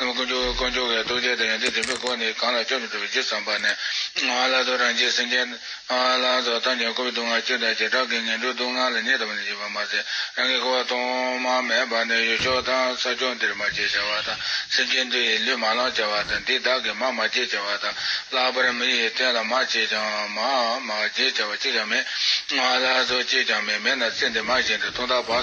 ནམ་མཁའ་འགྲོ་བའི་དཀོན་མཆོག་གི་རྡོ་རྗེ་དང་ཡོན་ཏན་དྲན་པའི་སྒོ་ནས་གང་ལ་སྐྱོབ་མི་ཐུབ་ཅེས་བསམས་པ་ནས། བླ་རྡོ་རང་རྒྱལ་སེམས་ཅན། བླ་རང་སོགས་བཏང་ཀྱང་འཁོར་བའི་སྡུག་བསྔལ་སྐྱོན་དང་བྱེ་བྲག་གིས་ངན་འགྲོའི་སྡུག་བསྔལ་ལ་ཉེ་ལྟ་བུ་ནས་འཇིགས་པར་མ་ཟད་རང་གི་འཁོར་བ་གཏོང་མ་མེད་པ་ནས་ཡུལ་ཕྱོགས་དང་ས་ཕྱོགས་འདིར་མ་སྐྱེས་བྱ་བ་དང་སེམས་ཅན་འདི་ཡི་ལུས་མ་བླངས་བྱ་བ་དང་འདི་བདག་གི་མ་མ་སྐྱེས་བྱ་བ་དང་ལྷག་པར་མི་ཡི་རྟེན་ལ་མ་སྐྱེས་ཀྱང་མ་མ་སྐྱེས་བྱ་བ་གཅིག་ཀྱང་མེད། བླ་རྡོ་གཅིག་ཀྱང་མེད་མེད་ན་ཚེ་འདི་མ་གཞན་དུ་ཐུང་ཐག་བག།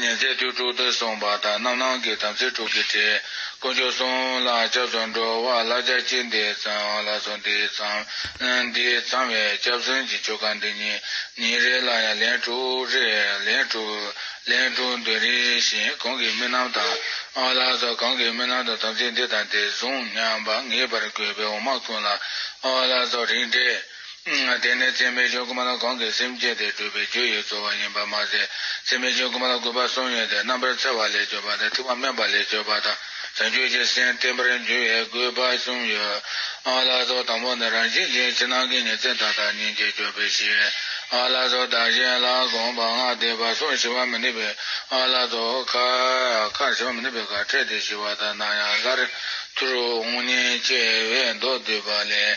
ཉིན་མཚན་དུས་དྲུག་ཏུ་གསུངས་པ་དང་རྣམ་སྣང་གི་དམ་ཚིག་དྲུག་གི་ཁྲིད། དཀོན་མཆོག་གསུམ་ལ་སྐྱབས་སུ་འགྲོ་བ་བླ་རྒྱ་བསྐྱེད་འདི་ཚང་ལ་སོགས་འདི་ཚང། འདི་ཚང་བའི་སྐྱབས་སེམས་ཀྱི་ཆོ་ག་འདི་ཉིན་ཉིན་རེ་ལ་ཡང་ལན་དྲུག་རེ་ལན་དྲུག། ལན་དྲུག་འདོན་རེ་ཞིང་གང་གི་རྨི་ལམ་དང། བླ་སོགས་གང་གི་རྨི་ལམ་དུ་དམ་ཚིག་འདི་དང་འདི་བཟུང་སྙམ་པ་ངེས་པར་དགོས་པའི་འོ་མ་ཁུང་ལ་བླ་སོགས་རིགས་འགྲེ། དེ་ནི་ཚད་མའི་ཆོས་ཀུན་མ་ལ་གང་གིས་སེམས་བསྐྱེད་དེ་སྤྲུལ་པའི་རྒྱུ་ཡི་རྩོལ་བ་ཡིན་པར་མ་ཟད། ཚད་མའི་ཆོས་ཀུན་མ་ལ་གུས་པ་གསུམ་ཡོད་དེ་རྣམ་པར་འཚེ་བ་ལས་གཅོད་པ་དང་ཐིག་པ་དམན་པ་ལས་གཅོད་པ་དང་བྱང་ཆུབ་ཀྱི་སེམས་བརྟན་པར་འགྱུར་བའི་གུས་པ་གསུམ་ཡོད། ཨ་ལ་སོགས་དང་པོ་ནི་རང་བཞིན་གྱིས་ཕྱི་ནང་གི་ཉིན་མཚན་དང་བདག་ཉིད་ཀྱི་སྤྱོད་པའི་ཕྱིར། ཨ་ལ་སོགས་བདག་གཞན་ལ་དགོངས་པ་སྔགས་བཟླས་པ་སོགས་ཞི་བ་མི་ནུས་པས་ཨ་ལ་སོགས་ཁ། ཁར་ཞི་བ་མི་ནུས་པའི་ཁར་ཕྲད་དེ་ཞི་བ་དང་སྣང་ཡང་སླར། ཐུར་འོང་ཉེས་བྱས་བས་མདོ་བསྡུས་པ་ལས།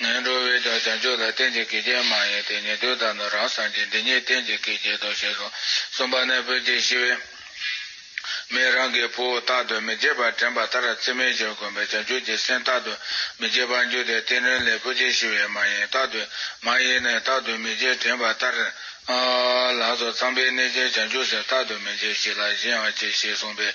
ངན་འགྲོ་བས་ཀྱང་བྱང་ཆུབ་ལ་རྟེན་ཅིག་གིས་ཀྱང་མ་ཡིན་ཏེ་ཉན་ཐོས་དང་ནི་རང་སངས་རྒྱས་འདི་གཉིས་རྟེན་ཅིག་གིས་བརྒྱད་དོ་ཞེས་སོ། གསུམ་པ་ནི་བུ་གཅིག་ཤི་བས་མིས་རང་གི་བུ་རྟག་ཏུ་མི་བརྗེད་པར་དྲན་པ་ལྟར་ཚིག་མེད་ཅིང་དགོན་པའི་བྱང་ཆུབ་ཀྱི་སེམས་རྟག་ཏུ་མི་བརྗེད་པར་འགྱུར་ཏེ་རྟེན་ནི་ལས་བུ་གཅིག་ཤི་བས་མ་ཡིན་རྟག་ཏུ་མ་ཡིན་ནི་རྟག་ཏུ་མི་བརྗེད་དྲན་པ་ལྟར། ལགས་སོ་ཚངས་པའི་གནས་ཅན་བྱང་ཆུབ་སེམས་རྟག་ཏུ་མི་བརྗེད་ཞིག་ལ་གཞན་ཡང་གཅིག་ཤིས་གསུངས་པས།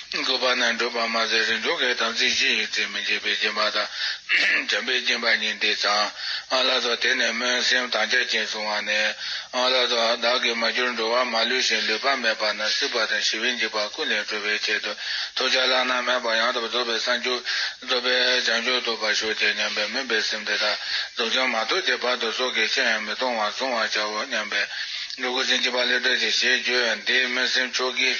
དགོས་པ་ན་བགྲོད་པར་མ་ཟད་རིང་འགྲོ་གའི་དམ་ཚིག་ཅི་ཡིན་ཚིག་མི་འབྱེད་པའི་སྦྱིན་པ་དང། བྱམས་པའི་སྦྱིན་པ་གཉིས་འདི་ཚང་ཨ་ལ་ཏོ་དེ་ནས་སྨོན་སེམས་དང་རྒྱ་ཆེན་བཟུང་བ་ནི། ཨ་ལ་ཏོ་བདག་གིས་མ་གྱུར་འགྲོ་བ་མ་ལུས་ཤིང་ལུས་པ་མེད་པ་ན་སྲིད་པ་དང་ཞི་བའི་འཇིགས་པ་ཀུན་ལས་གྲོལ་བའི་ཆེད་དུ་ཐུགས་ལྗགས་བླ་ན་མེད་པ་ཡང་དག་པར་རྫོགས་པའི་གསང་རྒྱུད། རྫོགས་པའི་བྱང་ཆུབ་ཐོབ་པར་ཤོག་ཅིག་སྙམ་པའི་སྨོན་པའི་སེམས་དེ་དག་རྫོགས་ཀྱང་མ་ཐོབ་ཀྱི་བར་དུ་སྲོག་གི་ཕྱིར་ཡང་མི་གཏོང་བར་བཟུང་བར་བྱའོ་སྙམ་པས། འགྲོ་ཀུན་སེམས་བསྐྱེད་པ་ལེགས་བསྒྲལ་ཅིག་ཞེས་བརྗོད། འདིའི་སྨོན་སེམས་མཆོག་གིས།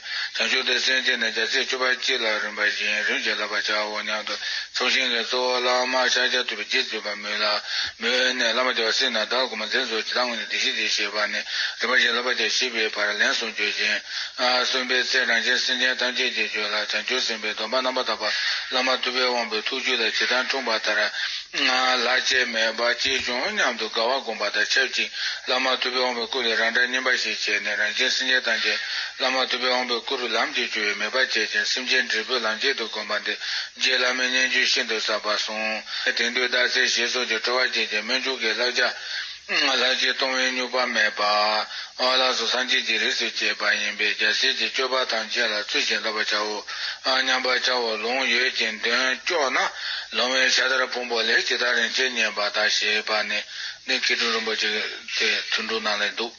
བྱང་ཆུབ་ཏུ་སེམས་བསྐྱེད་ནས་བརྒྱ་ཆའི་བཅུ་པ་གཅིག་ལ་རིམ་པ་བཞིན་རིམ་གྱིས་བསླབ་པར་བྱའོ་སྙམ་དུ་ཚོགས་ཞིང་གི་གཙོ་བོ་བླ་མ་ཤཱཀྱ་ཐུབ་པའི་རྗེས་སྤྱོད་པ་མོས་ལ། མོས་ནས་བླ་མ་བརྒྱ་བ་སྲིད་ན་བདག་གོ་མ་མཛད་ཚུལ་ཇི་ལྟར་ངོ་ནས་བདེ་གཤེགས་ཀྱིས་ཞེས་པ་ནས་རིམ་པ་བཞིན་བསླབ་པར་བྱ་ཞེས་པའི་བར་ལན་གསུམ་བརྗོད་ཅིང། གསུམ་པའི་ཚེ་རང་བཞིན་སེམས་ཅན་ཐམས་ཅད་ཀྱི་རྒྱུད་ལ་བྱང་ཆུབ་སེམས་དཔའི་སྡོམ་པ་རྣམ་པར་དག་པ་བླ་མ་ཐུབ་པའི་དབང་པོའི་ཐུགས་རྒྱུད་ལ་ཇི་ལྟར་འཁྲུངས་པ་ལྟར། ལྷག་ཆད་མེད་པར་སྐྱེས་བྱུང་སྙམ་དུ་དགའ་བ་བསྒོམ་པ་དང་ཆབས་ཅིག་བླ་མ་ཐུབ་པའི་དབང་པོའི་སྐུ་ལས་རང་འདྲ་སྙིམ་པ་ཞིག་བྱས་ནས་རང་བཞིན་སེམས་ཅན་ཐམས་ཅད་བླ་མ་ཐུབ་པས་འོངས་པའི་སྐུ་རུ་ལམ་གྱིས་བཅོལ་བའི་མོས་པ་བསྐྱེད་ཅིང་སེམས་ཅན་འབྲས་བུའི་ལམ་ཁྱད་དུ་བསྒོམ་པ་འདི་རྗེ་བླ་མའི་སྙན་བརྒྱུད་ཤིན་ཏུ་ཟབ་པར་གསུངས། དེང་དུས་རྟགས་གསལ་ཞེས་སོགས་ཀྱིས་སྤྲོ་བ་བསྐྱེད་ཅིང་སྨོན་འཇུག་གི་བསླབ་བྱ། ལྷར་བསྐྱེད་གཏོང་བའི་སྨྱུག་པ་མེད་པ། བླ་སྲོག་སངས་རྒྱས་ཀྱི་རིགས་སུ་བསྐྱེད་པ་ཡིན་པས་རྒྱ་ཆེར་གྱི་སྤྱོད་པ་ཐམས་ཅད་ལ་ཚུལ་བཞིན་བསླབ་པར་བྱའོ་སྙམ་པར་བྱ་བ་ལུང་ཡོད་ཅིང་དོན་སྐྱོ་ན་ལོང་བའི་ཤ་དར་ཕུང་པོ་ལས་ཇི་ལྟར་རིན་ཆེན་བསྙེན་པ་དག་ཞེས་པ་ནི་གནས་ཁེ་དྲུང་རིན་པོ་ཆེ་དེ་ཐུན་དྲུག་ནང་ལས་འདུག།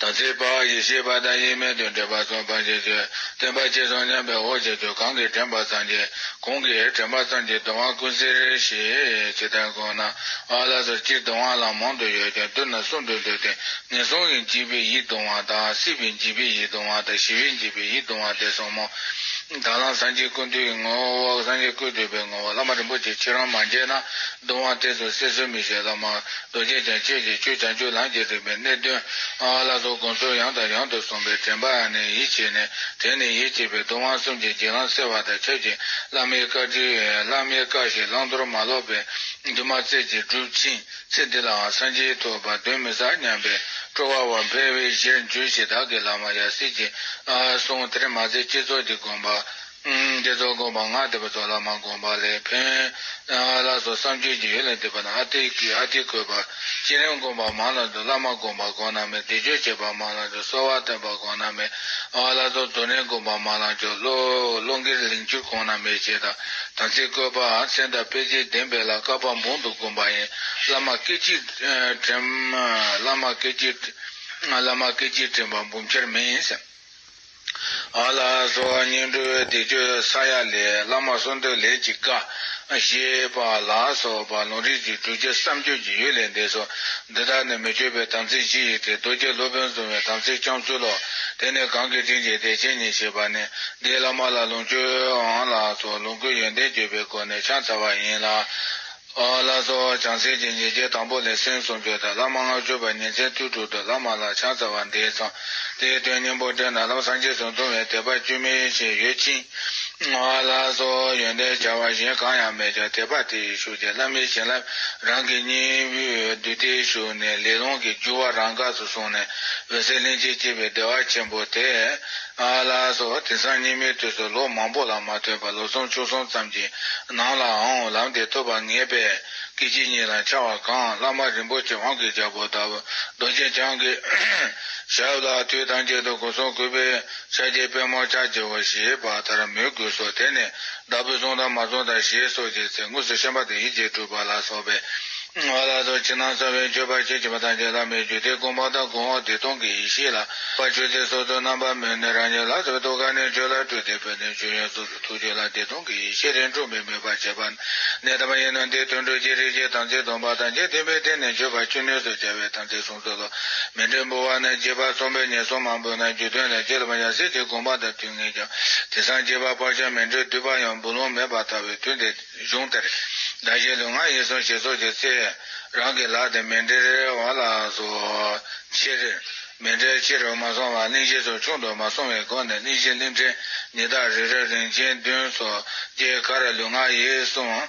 དམ་ཚིག་པ་ཡེ་ཤེས་པ་དང་ཡེ་མེད་དུ་འདྲེས་པ་སོགས་འཕགས་བྱེད་ཆོས་བསྟན་པ་ཅི་སོང་སྙམ་པའི་འོ་བྱེད་དུ་གང་གིས་དྲན་པ་ཙམ་གྱིས་གང་གིས་དྲན་པ་ཙམ་གྱིས་གདོང་བ་ཀུན་གཟིར་ཞེས་ཇི་ལྟར་དགོངས་ན། ཨ་ལ་སོར་གཅིག་གདོང་བ་ལ་མང་དུ་ཡོད་ཀྱང་བསྡུ་ན་གསུམ་དུ་འདོད་དེ་ངན་སོང་གི་འཇིགས་པའི་ཡིད་གདུང་བ་དང་སྲིད་པའི་འཇིགས་པའི་ཡིད་གདུང་བ་དང་ཞི་བའི་འཇིགས་པའི་ཡིད་གདུང་བ་སྟེ་གསུམ་མོ། དྭངས་བླངས་སངས་རྒྱས་ཀུན་འདུས་ཀྱི་ངོ་བོ་འོག་སངས་རྒྱས་ཀུན་འདུས་པའི་ངོ་བོ་བླ་མ་རིན་པོ་ཆེ་ཁྱེད་རང་མ་མཇལ་ན་གདུང་བ་གཏད་དོ་སེར་སོལ་མི་བཞེས་ལ་མ། རྡོ་རྗེ་ཅན་ཁྱོད་ཀྱིས་ཁྱོད་ཀྱང་ཁྱོད་ལངས་ཀྱི་རིགས་པའི་གནས་བདུན། ཨ་ལ་སོགས་དགོངས་གསོལ་ཡང་དང་ཡང་དུ་གསུངས་པས་དྲན་པ་ཨ་ནི་ཡིད་ཆེས་ནས་དེ་ནི་ཡིད་ཆེས་པའི་གདུང་བ་གསུམ་གྱི་གྱེན་ལངས་སེར་བ་དང་ཁྱབ་ཅིང་བླ་མའི་བཀའ་དྲིན། བླ་མའི་བཀའ་བཞིན་བླང་དོར་མ་ལོག་པའི་འདུན་མ་རྩེ་གཅིག་བསྒྲུབ་ཅིང་ཚེ་འདི་ལའང་སངས་རྒྱས་ཐོབ་པར་གདོན་མི་ཟ་སྙམ་པས་སྤྲོ་བ་བར་འཕེལ་བས་གཞིར་འགྱུར་ཞེས་བདག་གི་བླ་མ་ཡབ་སྲས་ཀྱིས་གསུངས་དེར་མ་ཟད་བསྐྱེད་རྫོགས་ཀྱི་དགོངས་པ། དེ་ཚོ་དགོངས་པ་ངག་འདོད་པ་ཚོ་ལ་མ་དགོངས་པ་ལས་ཕན། བླ་སོགས་བསམ་བརྗོད་ཀྱི་ཡུལ་ལས་འདས་པ་ན་ཨ་ཏི་ཀི་ཨ་ཏི་ཀོས་པ། སྤྱིར་ཡང་དགོངས་པ་མང་ལ་འདོད་བླ་མ་དགོངས་པ་དགོངས་ན་མེད་བཟླས་བརྗོད་བྱེད་པ་མང་ལ་འདོད་གསོལ་བ་བཏོན་པ་དགོངས་ན་མེད། བླ་རྫོགས་རྡོར་གནས་དགོངས་པ་མང་ལ་འཇོག། བློ་འགེལ་ལིང་བསྐྱུར་དགོངས་ན་མེད་ཅེས་དང་ཚིག་བཀོད་པ། མཚན་དང་དཔེ་བྱད་བདེན་པའི་ལ་ཀ་པ་འབུམ་དུ་བསྒོམ་པ་ཡིན། བླ་མ་སྐད་ཅིག་དྲན། བླ་མ་སྐད་ཅིག་དྲན། བླ་མ་སྐད་ཅིག་དྲན་པ་འབུམ་ཆར་མིན། ཨ་ལ་སོགས་སྙིང་འགྲོའི་སྡིག་སྤྱོད་ས་ཡ་ལས་བླ་མ་གསུང་འདོད་ལས་ཀྱི་བཀའ། ཞེས་པ་ལ་སོགས་པ་ལུང་རིགས་ཀྱི་གྲུབ་ཆ་བསམ་བརྗོད་ཀྱི་ཡུལ་ལས་འདས་སོ། འདི་དག་ནི་མི་བསྐྱོད་པའི་དམ་ཚིག་སྤྱི་ཡི་སྟེ་རྡོ་རྗེ་སློབ་དཔོན་གཟུང་བའི་དམ་ཚིག་བསྐྱང་ཚུལ་ལོ། དེ་ནི་གང་གི་དྲིན་གྱིས་དད་ཅན་ཉིད་བྱེད་པ་ནི་འདིའི་བླ་མ་ལ་ལུང་བཅོལ། ཨ་ལ་སོགས་ལོངས་སྐུའི་ཡོན་ཏན་བརྗོད་པའི་སྒོ་ནས་ཕྱག་འཚལ་བ་ཡིན་ལ། བླ་སྲོག་བྱང་སེར་གྱི་ཉེས་བྱས་དང་པོ་ལས་སེམས་གསུམ་བརྗོད་དང་བླ་མ་སྔགས་བརྗོད་པ་ཉིན་མཚན་དུས་དྲུག་ཏུ་བླ་མ་ལ་ཕྱག་འཚལ་བ་འདི་ཚང། དེའི་དོན་སྙིང་པོ་དྲན་ན་ལམ་སངས་རྒྱས་སུ་འདུ་བའི་དད་པ་སྐྱུར་མི་ཤེས་ཡོད་ཅིང། བླ་སྲོག་ཡོན་ཏན་བྱ་བ་གཞན་གང་ཡང་མེད་ཀྱང་དད་པ་དེ་ཡིས་ཞུགས་ཏེ་བླ་མའི་བྱིན་རླབས་རང་གི་སྙིང་དབུས་བསྡུས་ཏེ་ཞུགས་ནས་ལས་རླུང་གི་རྒྱུ་བ་རང་འགགས་སུ་སོང་ནས་འོད་གསལ་ལྷན་སྐྱེས་སྐྱེས་པའི་བདེ་བ་ཆེན་པོ་དེ། ལ་སོགས་པ་དེང་སང་སྙིགས་མའི་དུས་སུ་ལོ་མང་པོ་ལ་མ་ཐོས་པར་ལོ་ཚོང་བཅུ་གསུམ་ཙམ་གྱི་ནང་ལའང་ལམ་འདི་ཐོབ་པར་ངེས་པས་སྐད་ཅིག་ཉིད་ལ་འཆར་བ་གང་བླ་མ་རིན་པོ་ཆེ་དབང་གི་རྒྱལ་པོ་དང་རྡོ་རྗེ་འཆང་གི་ཞབས་ལ་དུས་དང་བཅད་དུ་སྒོ་སྲུང་གུས་པས་ཕྱག་རྒྱའི་པདྨོ་ཕྱག་བགྱི་བ་ཞེས་པ་ལྟར་མོས་གུས་སོགས་དེ་ནས་བདག་པོས་བཟུང་དང་མ་བཟུང་དང་ཞེས་སོགས་ཀྱི་ཚེ་དངོས་སུ་ཤན་པ་དང་ཡིད་བྱེད་གྲུབ་པ་ལ་སོགས་པའི་བར་ལ་སོགས་ཕྱི་ནང་གསང་བའི་མཆོད་པ་ཕྱེད་བྱེད་པ་དང་བཅས་ལྷག་མའི་རྒྱུད་སྡེ་གོང་འཕང་དང་གོང་འོག་བདེ་སྟོང་གི་ཡེ་ཤེས་ལ་པ་མཆོད་ཚེ་སོ་སོའི་རྣམ་པར་མོས་ནས་རང་ཉིད་ལ་སོགས་པའི་ཐུགས་ཀ་ནས་མཆོད་ལ་སྤྲུལ་ཏེ་འཕོས་ནས་མཆོད་ཡོན་གཙུག་ཏུ་ཐུགས་མཆོད་ལ་བདེ་སྟོང་གི་ཡེ་ཤེས་རིང་འཁྲུངས་པའི་མོས་པ་བྱེད་པ། ནད་དམ་གཡེང་ན་འདིའི་དོན་སྤྲུལ་གྱི་རིགས་ཀྱི་དམ་ཚིག་སྡོམ་པ་དང་བཅས་བདེན་པའི་སྟེང་ནས་མཆོད་པ་བཅུ་ནུས་སུ་བྱ་བའི་དམ་ཚིག་འདོད་ལ། མེ་སྦྲེང་སྦུ་བ་ནས་རྗེས་དཔག་རྩོམ་པའི་ཉེས་གསོག་མང་པོས་ན་རྒྱུ་དོན་ལས་འགལ་བར་ཡང་སྲིད་དེ་དགོངས་པ་དང་མཐུན་ངེས་ཀྱང། དེ་སང་རྗེས་དཔག་བག་ཆགས་མེད་འགྲོས་བསྡུས་པ་ཡང་འབུ་ལོང་མེད་པར་ལྟ་བའི་དུས་འདི་གཞུང་དེར། བདག་གཞན་ལུས་ངག་ཡིད་གསུམ་ཞེ་སོགས་ཀྱི་ཚེ། རང་གི་ལག་དེ་མེ་འབྲེལ་རེ་བ་ལ་སོགས་ཕྱིར། མེ་འབྲེལ་ཕྱི་རུ་མ་སོང་བར་གླིང་བཞི་ཚོ་ཆུང་དུ་མ་སོང་བའི་སྒོ་ནས་གླིང་བཞི་གླིང་ཕྲན་ཉི་ཟླ་རེ་རེར་རིན་ཆེན་བདུན་སོགས་ཀྱི་ཁར་ལུས་ངག་ཡིད་གསུམ།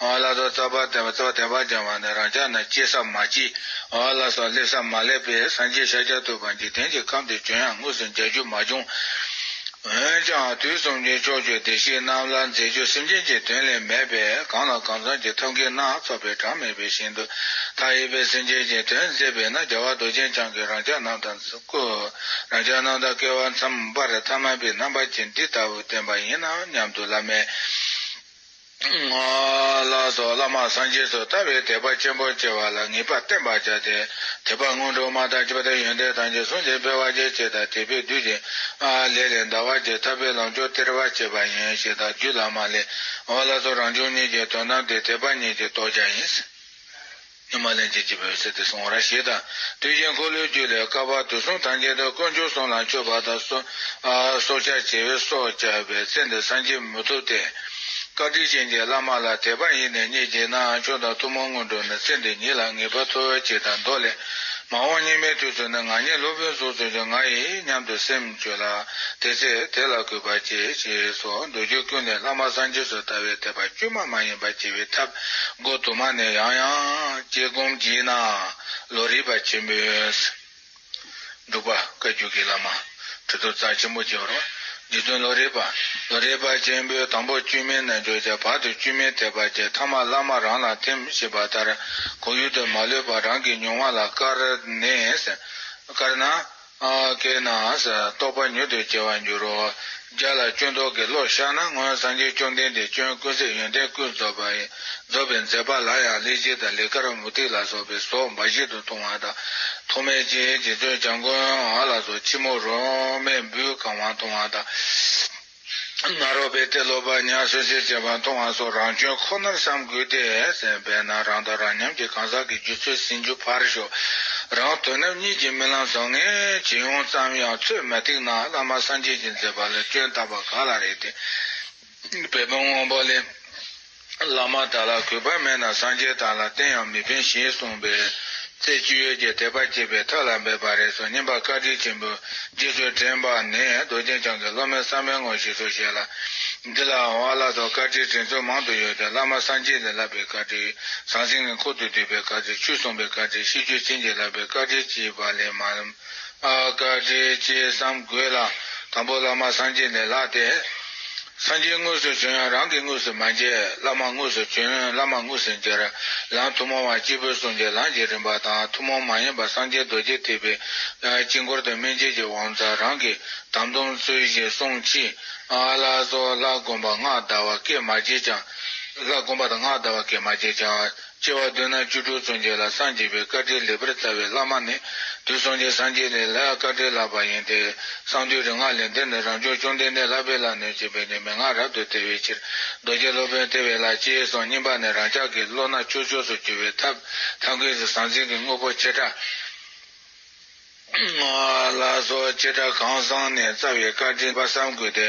ཨོ་ལ་སོགས་རྩ་བར་བསྟན་པའི་ཚོགས་བསྟན་པ་སྦྱང་བ་ནི་རང་ཅག་ན་སྐྱེས་སམ་མ་སྐྱེས། ཨོ་ལ་སོགས་སླེབས་སམ་མ་སླེབས་པས་སངས་རྒྱས་ཤཱཀྱ་ཐུབ་པ་འཇིག་རྟེན་གྱི་ཁམས་འདིར་བྱོན་ཡང་དངོས་སུ་མཇལ་རྒྱུ་མ་བྱུང། འོན་ཀྱང་དུས་གསུམ་གྱི་ཕྱོགས་བཅུའི་བདེ་གཤེགས་རྣམས་ལ་མཛད་རྒྱུ་སེམས་ཅན་གྱི་དོན་ལས་མེད་པས་གང་ལ་གང་འཚམས་ཀྱི་ཐབས་མཁས་སྣ་ཚོགས་པའི་གྲངས་མེད་པའི་ཞིང་དུ་མཐའ་ཡས་པའི་སེམས་ཅན་གྱི་དོན་མཛད་པས་ན་རྒྱལ་བ་རྡོ་རྗེ་འཆང་གིས་རང་ཅག་རྣམས་དང་སྐུ། རང་ཅག་རྣམས་དང་སྐལ་བ་མཚམས་སྦར་ཐ་མལ་པའི་རྣམ་པ་ཅན་འདི་ལྟ་བུ་བསྟན་པ་ཡིན་ནམ་སྙམ་དུ་བླ་མའི། ངག་ལ་སོགས་བླ་མ་སངས་རྒྱས་སུ་ལྟ་བའི་དད་པ་ཆེན་པོ་སྐྱེ་བ་ལ་ངེས་པར་བསྟེན་པར་བྱ་སྟེ། དད་པ་སྔོན་འགྲོ་མ་དང་བཅས་པ་དང་ཡོན་ཏན་ཐམས་ཅད་ཟུང་འཇུག་འཕེལ་བར་བྱེད་ཅེས་དང་དད་པས་བསྡུས་ཏེ། ལས་ལས་འདའ་བར་བྱེད་ཐར་པའི་ལམ་མཆོག་སྟེར་བར་བྱེད་པ་ཡིན་ཞེས་དང་རྒྱུད་བླ་མ་ལས། ངག་ལ་སོགས་རང་བྱུང་གཉིས་ཀྱི་དོན་དམ་དེ་དད་པ་ཉིད་ཀྱི་རྟོགས་བྱ་ཡིན། སྔོན་མ་ལན་བྱེད་ཀྱི་འོད་ཟེར་དེ་སོང་བར་ཞེས་དང། དུས་གཞན་འཁོར་ལོའི་རྒྱུད་ལས་བསྐལ་པ་དུས་གསུམ་ཐམས་ཅད་དུ་དཀོན་མཆོག་གསུམ་ལ་མཆོད་པ་དང། སྲོག་ཆགས་བྱེ་བས་སྲོག་བཅད་པའི་ཚེ་འདི་སངས་རྒྱས་མི་ཐུབ་སྟེ། བཀའ་དྲིན་ཅན་གྱི་བླ་མ་ལ་དད་པ་ཡེ་ནས་རྙེད་ཀྱི་ནའང་ཆུང་དང་ཐུན་མོང་སྔོན་འགྲོ་ནི་ཚེ་འདི་ཉིད་ལ་ངེས་པར་འཐོབ་ཅེས་དང་མདོ་ལས། མ་འོངས་སྙིགས་མའི་དུས་སུ་ནི་ང་ཉིད་སློབ་དཔོན་གཟུགས་བཙུན་ཅིང་ང་ཡི་སྙམ་དུ་སེམས་བཅོས་ལ། དེ་ཚེ་དེ་ལ་གུས་པར་བསྐྱེད། ཅེས་སོགས་མདོ་རྒྱུད་ཀུན་ནས་བླ་མ་སངས་རྒྱས་སུ་ལྟ་བའི་དད་པ་དཀྱུས་མ་མ་ཡིན་པར་བསྐྱེད་པའི་ཐབས། སྒོ་དུ་མ་ནས་ཡང་ཡང་དཀྱིལ་སྒོམ་བགྱིས་ན་བློ་རིག་པ་ཆེན་པོའི། འབྲུག་པ་བཀའ་བརྒྱུད་ཀྱི་བླ་མ་ཁྲི་དོ་རྩ་ཆེན་པོ་རྒྱལ་བ་རོ། རྗེ་བཙུན་བློ་རིག་པ་བློ་རིག་པ་ཆེན་པོའི་དང་པོ་བཅོས་མའི་རྣལ་འབྱོར་བྱ་བར་དུ་བཅོས་མའི་ཐེག་པ་བརྒྱད་ཐ་མ་བླ་མ་རང་ལ་ཐིམ་ཞེས་པ་ལྟར་གོ་ཡུལ་དུ་མ་ལུས་པ་རང་གི་མྱོང་བ་ལ་དཀར་ནས་དཀར་ན། དེས་ན་རྟོག་པ་མྱུར་དུ་སྐྱེ་བར་འགྱུར་རོ། བརྒྱ་ལ་སྐྱོན་རྟོག་གི་བློ་བཤགས་ན་སྔོན་སངས་རྒྱས་བཅོམ་ལྡན་འདས་སྐྱོན་ཀུན་སེལ་ཡོན་ཏན་ཀུན་རྫོགས་པའི་རྫོགས་པའི་མཛད་པ་ལ་ཡང་གླེགས་བྱེད་དང་ལི་ཀར་མུ་ཏིག་ལ་སོགས་པའི་སོགས་འབའ་ཞིག་ཏུ་ཐུང་བ་དང་ཐུང་མེད་ཅིང་རྗེ་བཙུན་བྱམས་མགོན་ལ་སོགས་ཕྱི་མོ་རོ་མའི་འབུའི་གང་བ་ཐུང་བ་དང། ནཱ་རོ་པས་དེ་ལོ་པར་ཉར་སོན་ཆེད་བྱས་པ་མཐོང་བ་སོགས་རང་སྐྱོན་ཁོ་ནར་བསམ་དགོས་ཏེ། དཔེར་ན་རང་དང་རང་མཉམ་གྱི་གང་ཟག་གི་རྒྱུ་ཚོད་ཟིན་རྒྱུ་ཕར་ཞོག་རང་དོན་རྣམ་གཉིས་ཀྱི་རྨི་ལམ་བཟང་ངན་ཇི་ཡོང་ཙམ་ཡང་ཚོད་མ་ཐིག་ན་བླ་མ་སངས་རྒྱས་ཀྱི་མཛད་པ་ལ་སྐྱོན་བཏགས་པ་ག་ལ་རེད་དེ། བོད་པའི་དངོས་པོ་ལས། བླ་མ་དག་ལ་གུས་པ་མེད་ན་སངས་རྒྱས་དག་ལ་རྟེན་ཡང་མི་ཕན་ཞེས་གསུངས་པས། ཚེས་བཅུ་ཡོས་ཀྱི་དད་པ་སྐྱེས་པའི་ཐབས་ལ་འབད་པ་རེད་སོགས་སྙན་པ་བཀའ་དྲིན་ཆེན་པོས་རྗེས་སུ་དྲན་པ་ནི་རྡོ་རྗེ་འཆང་གི་སློབ་མའི་བསམ་པའི་ངོར་ཞིག་སོ་བཞེད་ལ། འདི་ལའང་བ་བླ་སོགས་བཀའ་དྲིན་དྲན་ཚུལ་མང་དུ་ཡོད་དེ་བླ་མ་སངས་རྒྱས་ལས་བསླབ་པའི་བཀའ་དྲིན་ཟང་ཟིང་གི་འཁོར་དུ་འདུས་པའི་བཀའ་དྲིན་ཆོས་གསུངས་པའི་བཀའ་དྲིན་ཤིས་བརྗོད་བྱིན་གྱིས་བརླབས་པའི་བཀའ་དྲིན་བཅས་པ་ལས་མ་བཀའ་དྲིན་ཅི་བསམ་དགོས་ལ་དང་པོ་བླ་མ་སངས་རྒྱས་ནས་ལྷགས་ཏེ། སངས་རྒྱས་དངོས་སུ་བྱོན་ཡང་རང་གི་དངོས་སུ་མ་མཇལ་བླ་མ་དངོས་སུ་བྱོན་བླ་མ་དངོས་སུ་མཇལ། ལམ་ཐུན་མོང་བ་སྤྱི་བོའི་གསུང་གི་ལམ་གྱི་རིམ་པ་དང་ཐུན་མོང་མ་ཡིན་པ་སངས་རྒྱས་རྡོ་རྗེ་ཐེག་པའི་དཀྱིལ་འཁོར་དུ་མན་ཆད་ཀྱི་དབང་རྩ་རང་གི་དམ་སྡོམ་ཚུལ་བཞིན་བསྲུང་མཆིས། ཨ་ལ་སོགས་ལྷ་བསྒོམ་པ་སྔགས་བཟླ་བ་སྐད་མ་བརྗེད་ཅིང། ལྷ་བསྒོམ་པ་དང་སྔགས་བཟླ་བ་སྐད་མ་བརྗེད་ཅིང། སྐྱེ་བ་བདུན་ན་བཅུ་དྲུག་བཙུན་རྒྱལ་ལ་སངས་རྒྱས་པའི་བཀའ་དྲིན་ལེགས་པར་བསྩལ་བའི་བླ་མ་ནི་དུས་གསུམ་གྱི་སངས་རྒྱས་ལས་ལྷའི་བཀའ་དྲིན་ལགས་པ་ཡིན་ཏེ། གསང་འདུས་རིག་སྔགས་ལས་འདི་ནི་རང་བྱུང་བཅོམ་ལྡན་འདས་ལྷ་དཔལ་ལ་ནོད་ཅེས་པའི་ནི་མན་ངག་རབ་ཏུ་དལ་བའི་ཕྱིར། རྡོ་རྗེ་སློབ་དཔོན་ལྟེ་བའི་ལྷ་སྤྱིའི་གསུང་སྙིམ་པ་ནི་རང་ཅག་གི་བློ་སྣ་ཆོས་ཕྱོགས་སུ་གྱུར་པའི་ཐབས་ཐམས་ཀྱི་ཟང་ཟིང་གི་དངོས་པོ་ཆེ་ཕྲ། ལ་སོགས་ཆེ་ཕྲ་གང་བཟང་ནས་རྩ་བའི་བཀའ་དྲིན་པ་བསམ་དགོས་ཏེ་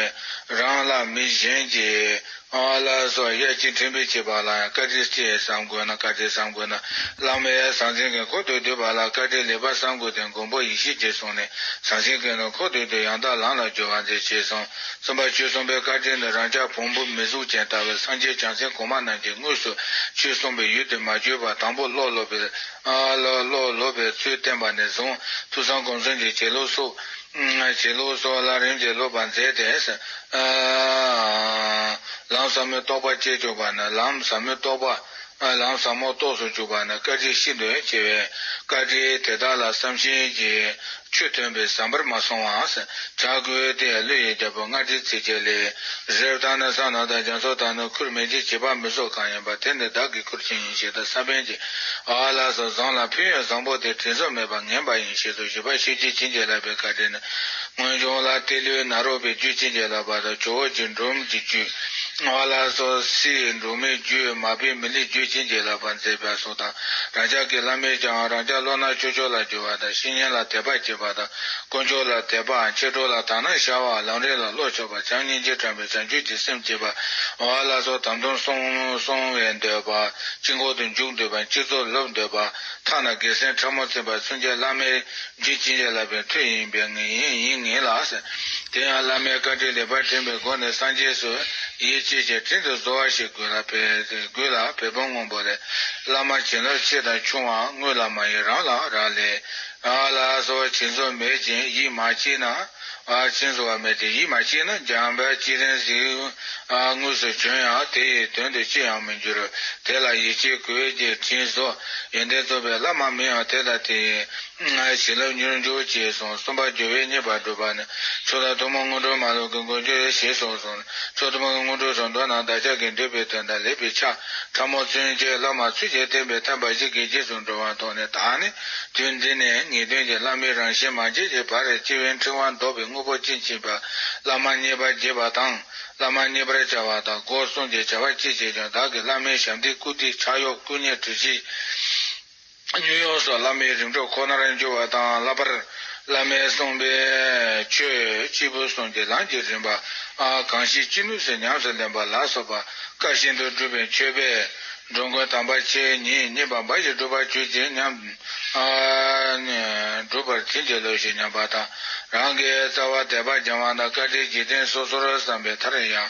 རང་ལ་མི་གཞན་གྱིས་ལ་སོགས་ཡ་གཅིག་དྲིན་པས་བྱས་པ་ལ་ཡང་བཀའ་དྲིན་ཅེས་བསམ་དགོས་ན་བཀའ་དྲིན་བསམ་དགོས་ན་བླ་མའི་ཟང་ཟིང་གི་འཁོར་དོད་དོད་པ་ལ་བཀའ་དྲིན་ལེགས་པར་བསམ་དགོས་ཏེ་མགོན་པོ་ཡེ་ཤེས་ཀྱིས་གསུངས་ནས་ཟང་ཟིང་གི་ནི་འཁོར་དོད་དོད་ཡང་དག་ལམ་ལ་སྦྱོར་བར་མཛད་ཅེས་གསུངས། གསུམ་པ་ཆོས་གསུམ་པའི་བཀའ་དྲིན་ནི་རང་ཅག་བོང་བུ་མི་གཟུགས་ཅན་ལྟ་བུའི་སངས་རྒྱས་བྱང་སེམས་གོང་མ་རྣམས་ཀྱིས་དངོས་སུ་ཆོས་གསུངས་པའི་ཡུལ་དུ་མ་བརྗོད་པར་དང་པོ་བློ་སློབ་པའི་ལ་ལོག་ལོབ་པའི་ཚུལ་བསྟན་པ་ནས་བཟུང་ཐུགས་གསང་གོམས་སྲོལ་གྱི་བྱེད་ལུགས་སོགས། བྱེད་ལུགས་སོགས་ལ་རིམ་གྱིས་སློབ་པར་མཛད་དེ། ལམ་ཟབ་མོའི་རྟོགས་པ་བསྐྱེད་བཅུག་པ་ན་ལམ་ཟབ་མོའི་རྟོགས་པ། ལམ་ཟབ་མོ་རྟོགས་སུ་བཅུག་པ་ན་བཀའ་ཁྲིའི་ཤིན་ཏུ་ཆེ་བའི་བཀའ་ཁྲི་དེ་དག་ལ་བསམ་བཞིན་གྱི་ཆོས་སྟོན་པའི་ཟམ་པར་མ་སོང་བའང་བྱ་དགོས་ཏེ་ཀླུ་ཡི་རྒྱལ་པོ་མངལ་སྦྲིད་ཚིགས་བཅད་ལས། རེབ་དང་ནི་ས་ནོར་དང་རྒྱ་མཚོ་དང་ནི་ཁུར་མིག་ཅེས་བྱེད་པ་མི་སོགས་གང་ཡིན་པ་དེ་ནི་བདག་གི་ཁུར་ཆེན་ཡིན་ཞེས་ད་ས་བོན་གྱིས་ཨ་ལ་སོགས་བཟང་ལ་ཕུལ་ཡང་བཟང་པོ་དེ་དྲིན་ཟོར་མེད་པར་ངན་པ་ཡིན་ཞེས་སོགས་བཞི་པ་ཤེས་རྒྱུད་ཅི་འཇལ་ལགས་པའི་བཀའ་དྲིན་ནི། སྔོན་བྱུང་ལ་སྟེ་ཀླུའི་ནཱ་རོ་པའི་རྒྱུད་ཅི་འཇལ་ལགས་པ་དང་ཇོ་བོ་རྗེ་འབྲོམ་གྱི་རྒྱུད། ཨ་ལ་སོགས་སྲིའི་འབྲུག་མོའི་རྒྱུད་མ་པའི་མི་ལིའི་རྒྱུད་ཅི་འཇལ་ལགས་པར་མཛད་པས་སོ། པ་དང་རང་ཅག་གི་བླ་མས་ཀྱང་རང་ཅག་བློ་སྣ་ཅོག་ཅོག་ལ་འགྱུར་བ་དང་བཤེས་གཉེན་ལ་དད་པ་བསྐྱེད་པ་དང་དཀོན་མཆོག་ལ་དད་པའང་ཁྱེད་དྲུག་ལ་དག་ན་ཤར་བ་ལམ་རེ་ལ་བློ་ཆོས་པ་བྱམས་སྙིང་རྗེ་དྲངས་པའི་བྱང་ཆུབ་ཀྱི་སེམས་བསྐྱེད་པ། འོ་ཨ་ལ་སོགས་དམ་དུམ་སོང་བས་འདོད་པ། སྤྱི་འཁོར་དུ་འཇུག་འདོད་པ་སྤྱི་ཚོགས་ལོབས་འདོད་པ། མཐའ་ན་སྒེར་སེམས་ཕྲ་མོ་འཚེམ་པ་མཚོན་ཆའི་བླ་མའི། རྗེ་བྱིན་ལས་བརླབས་པའི་ཐུགས་ཡིན་པས་ངེས་ཡིན་ཡིན་ངེས་ལགས། དེ་ཡང་བླ་མའི་བཀའ་དྲིན་ལེགས་པར་དྲན་པའི་སྒོ་ནས་སངས་རྒྱས་སུ་ཡིད་ཆེས་བྱས་དྲིན་དུ་བཟོ་བ་ཞིག་དགོས་ལ། བལ་པོ་སྔོན་པོ་ལས། བླ་མ་བྱིན་རླབས་ཆེ་དང་ཆུང་བའང་དངུལ་ལ་མ་ཡིན་རང་ལ་རག་ལས། ལ་སོགས་བྱིན་ཟོར་མེད་ཅིང་ཡིད་མ་ཆེས་ན། ཅན་གཟུང་བ་མེད་དེ་ཡིད་མ་ཆེས་ན་འཇམ་དཔལ་ཅི་རན་གཟིགས། དངོས་སུ་བྱོན་ཡང་དེ་ཡི་དོན་དུ་ཅི་ཡང་མི་འགྱུར། དེ་ལ་ཡིད་ཆེས་གོས་རྒྱས་བྲིས་སོ། ཡོན་ཏན་རྩོམ་པའི་བླ་མ་མིང་ཡང་དེ་དང་དེ་ཡིན། བྱིན་རླབས་མྱུར་འགྱུར་ཅེས་གསུངས་གསུམ་པ་སྦྱོར་བས་རྙེད་པར་སྒྲུབ་པ་ནི། ཕྱོགས་དང་ཐུན་མོང་སྔོན་འགྲོ་མ་ལུས་ཀྱི་མགོན་སྦྱོར་ཡེ་ཤེས་སོགས་གསུངས་ནས་ཕྱོགས་ཐུན་མོང་གི་སྔོན་འགྲོའི་རང་དོན་དང་བདག་ཅག་གི་འདོད་པའི་དོན་དང་ལེགས་པའི་ཆ་ཕྲ་མོ་མཚོན་བྱེད་བླ་མ་ཚུལ་བཞིན་བསྟན་པའི་ཐབས་འབའ་ཞིག་གིས་རྗེས་སུ་འགྲོ་བ་མཐོང་ནས་ད་ནི། དོན་འདི་ནི་ངེས་དོན་གྱི་བླ་མའི་རང་བཞིན་མ་སྐྱེས་ཀྱི་བར་རེ་སྐྱེས་བུའི་འཕྲེང་བ་འདོགས་པའི་དངོས་པོ་ཅན་བྱིན་པ་བླ་མ་མཉེས་པ་རྒྱས་པ་དང་བླ་མ་མཉེས་པར་བྱ་བ་དང་སྒོ་གསུམ་གྱི་བྱ་བ་གཅིག་བྱས་ཀྱང་བདག་གིས་བླ་མའི་ཞབས་འདེགས་བཀུར་སྟི་ཕྱག་གཡོག་བཀུ་མཉེ་གྲོས་གཞི། ཉོན་ཡོངས་སོགས་བླ་མའི་རིམ་གྲོ་ཁོ་ནར་འགྱུར་བ་དང་བསླབ་པར། བླ་མས་གསུངས་པའི་ཆོས་སྐྱེས་བུ་གསུམ་གྱི་ལམ་གྱི་རིམ་པ། གང་ཞིག་ཅི་ནུས་སུ་ཉམས་སུ་ལེན་པ་ལ་སོགས་པ་བཀའ་བཞིན་དུ་སྒྲུབ་པའི་མཆོད་པས། འགྲོ་མགོན་དམ་པ་ཆེ་ཉིད་བསྙེན་པ་འབའ་ཞིག་བསྒྲུབ་པར་གྱུར་ཅིག་སྙམ། བསྒྲུབ་པར་བྱིན་གྱིས་རློབས་ཤིག་སྙམ་པ་དང་རང་གི་རྩ་བ་དད་པ་རྒྱ་དབང་དང་བཀའ་དྲིན་གྱི་རྟེན་སོ་སོར་བསམ་པའི་མཐར་ཡང།